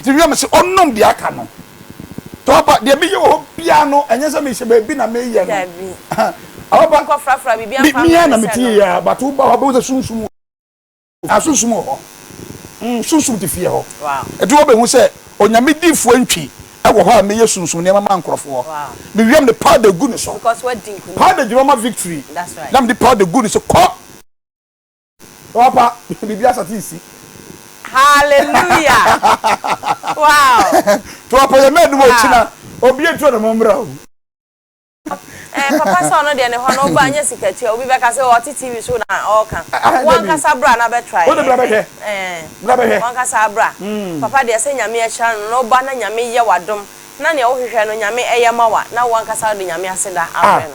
Enti wia me se ɔnom deɛ aka no papa deɛ meyɛ wɔ hɔ biara no ɛnyɛ sɛ mehyɛ baabi na meyɛ no papa mea na mete yɛ ya but woba hɔ bɛhu sɛ sunsum na sunsum wɔ hɔ mm, sunsum te fie hɔ ɛti wɔbɛhu sɛ onyame difoɔ ntwi ɛwɔ hɔ a meyɛ sunsum nneɛma ma nkorɔfoɔ mewiam de powder gu ne so powder gyina ma victory na mede powder gu ne so kɔ Wapa biribi asate resi. Hallelujah! Wow! To apa yɛ mɛnum o kyina obi etu ɔnam ɔmmra o. Ɛɛ papa sɛ ɔno deɛ ne hɔ no woba nyɛ sikatua obi bɛka sɛ ɔte TV so na ɔɔka wankasa bra na bɛtrae ɛɛ ɛɛ wankasa bra papa deɛ sɛ nyame ahyira no na woba na nyame yɛ wadom na nea wohwehwɛ no nyame ɛyɛ ma wa na wankasa wode nyame aseda afrɛ no.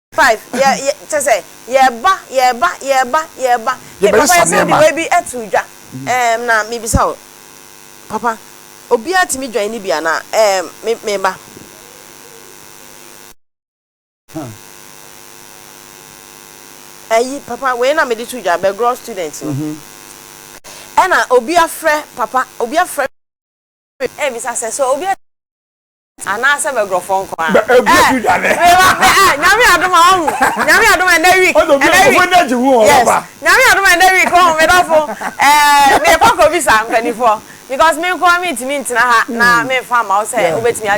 Five, yɛ, yɛ, kyɛ sɛ, yɛreba, yɛreba, yɛreba, yɛreba. Hey, papa, yɛbɛyɛ sɛ yɛsɛ de nneɛma. wei bi ato dwa. Ɛɛm, na mebisa wo, papa, obiara tumi dwan ne bi anaa? Ɛɛm, me, meba. Huh. Ayi, papa, wei na mede to dwa, bɛgorɔ student no. Mhm. Ɛna obi afrɛ, papa, obi afrɛ me rebisa sɛ, sɛ obiara anaasɛ bɛgorɔfoɔ nko a bɛ ɛɛ ɛɛ nyame adom a ɔhu nyame adom ɛnɛ week ɛnɛ week yes nyame adom ɛnɛ week ɔhu me dɔfo ɛɛ mekɔ kɔ bisa mpanimfoɔ because me nko a mentumi ntena ha na memfa mma wo sɛ wobɛtumi